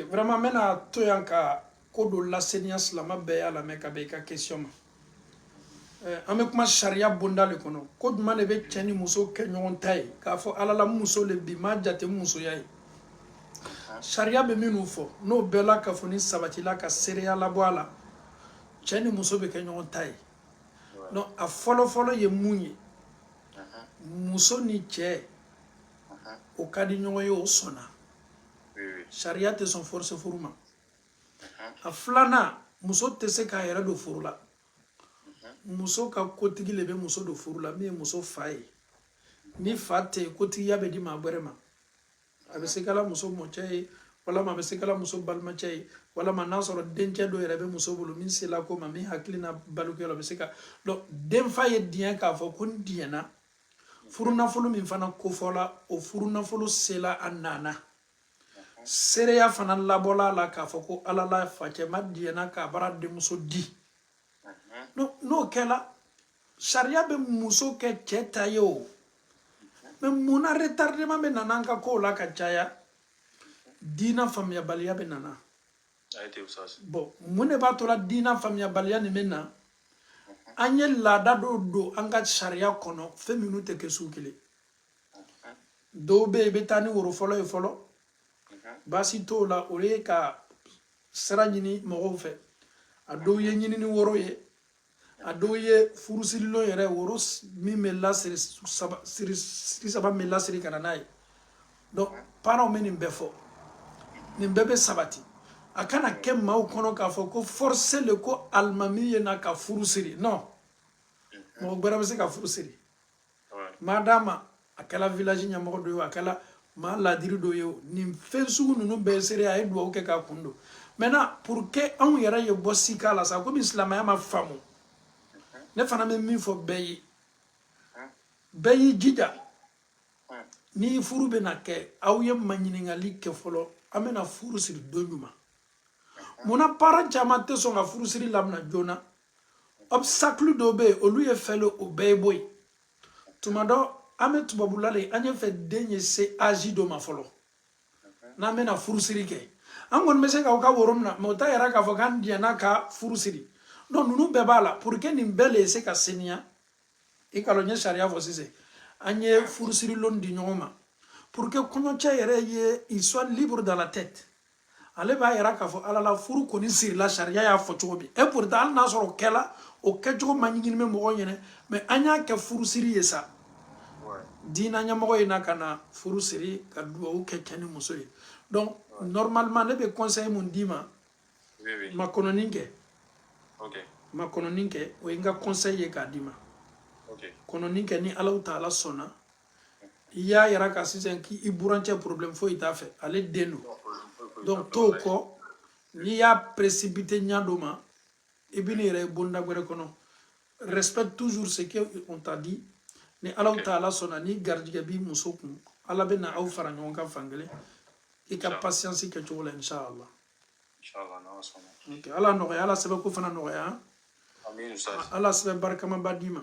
vraiment n bɛna to yan ka ko dɔ laseniya silama bɛɛ y'a lamɛn ka bɛn i ka question ma eh, an bɛ kuma sariya bonda le kɔnɔ ko jumɛn de bɛ cɛ ni muso kɛ ɲɔgɔn ta ye k'a fɔ ala la muso le bi m'a jate musoya ye sariya bɛ minnu fɔ n'o bɛɛ lakafonin sabatila ka seereya labɔ a la cɛ ni muso bɛ kɛ ɲɔgɔn ta ye donc a fɔlɔfɔlɔ ye mun ye muso ni cɛ o ka di ɲɔgɔn ye o sɔnna sariya tɛ sɔn force furu ma a filanan muso tɛ se k'a yɛrɛ don furu la muso ka kotigi le bɛ muso don furu la min ye muso fa ye ni fa tɛ yen kotigiya bɛ di maa wɛrɛ ma a bɛ se kɛla muso mɔcɛ ye walama a bɛ se kɛla muso balimacɛ ye walama n'a sɔrɔ dencɛ dɔ yɛrɛ bɛ muso bolo min sela ko ma min hakilina balikuya la a bɛ se ka denfa ye diɲɛ k'a fɔ ko n diɲɛna furunafolo min fana kofɔla o furunafolo sela a nana seereya fana labɔla a la k'a fɔ ko ala la facɛma diɲɛna k'a bara denmuso di n'o kɛla sariya bɛ muso kɛ cɛ ta ye o mais mun na retardement bɛ nana an ka kow la ka caya diina faamuyabaliya bɛ nana bon mun de b'a tola diina faamuyabaliya nin bɛ na an ye laada dɔw don an ka sariya kɔnɔ fɛn minnu tɛ kɛ sugu kelen dɔw bɛ yen i bɛ taa ni woro fɔlɔ ye fɔlɔ baasi t'o la o ye ka sira ɲini mɔgɔw fɛ a dɔw ye ɲinini woro ye a dɔw ye furusirilon yɛrɛ woro min bɛ lasiri saba min bɛ lasiri ka na n'a ye donc parents bɛ nin bɛɛ fɔ nin bɛɛ bɛ sabati a kana kɛ maaw kɔnɔ k'a fɔ ko force le ko alimami ye na ka furu siri non mɔgɔ gbɛrɛ bɛ se ka furu siri maa d'a ma a kɛla village ɲɛmɔgɔ dɔ ye a kɛla maa ladiri dɔ ye o nin fɛn sugu ninnu bɛɛ sere a ye dugawu kɛ k'a kun don maintenant pour que anw yɛrɛ ye bɔ sika la sa komi silamɛya ma faamu ne fana bɛ min fɔ bɛɛ ye bɛɛ y'i jija ni furu bɛna kɛ aw ye maɲininkali kɛ fɔlɔ an bɛna furu siri don juman munna parent caman tɛ sɔn ka furusiri lamina joona obstacle dɔw bɛ yen olu ye fɛn o bɛɛ ye bɔ yen tuma dɔ an bɛ tubabula le an ye fɛ den ye se âge dɔ ma fɔlɔ n'an bɛna furusiri kɛ an kɔni bɛ se k'aw ka woro minɛ mais o t'a yira k'a fɔ k'an diɲɛna ka furu siri donc ninnu bɛɛ b'a la pour que nin bɛɛ le se ka seniya i k'a lɔn n ye sariya fɔ sisan an ye furusirilon di ɲɔgɔn ma pour que kɔɲɔcɛ yɛrɛ ye il soit libre dans la tête ale b'a yira k'a fɔ ala la furu kɔni sirila sariya y'a fɔ cogo min et pourtant hali n'a sɔrɔ o kɛla o kɛcogo man ɲi ni bɛ mɔgɔ ɲɛ na mais an y'a kɛ furu siri ye sa diina ɲɛmɔgɔ ye na ka na furu siri ka dugawu kɛ cɛ ni muso ye donc normalement ne bɛ conseil min d'i ma makɔnɔni kɛ makɔnɔni kɛ o ye n ka conseil ye k'a di makɔnɔni kɛ ni alahu taala sɔnna i y'a yira ka sisan k'i burancɛ problème foyi t'a fɛ ale den don donc t'o kɔ n'i y'a précipité ɲa dɔ ma i bɛ n'i yɛrɛ ye bonda wɛrɛ kɔnɔ respecte toujours ce que on t'a dit ni alahu taala sɔnna ni garijɛgɛ b'i muso kun ala bɛ na aw fara ɲɔgɔn kan fan kelen i ka patience kɛ cogo la inshallah ala nɔgɔya ala sɛbɛnko fana nɔgɔya ala sɛbɛn barikamaba d'i ma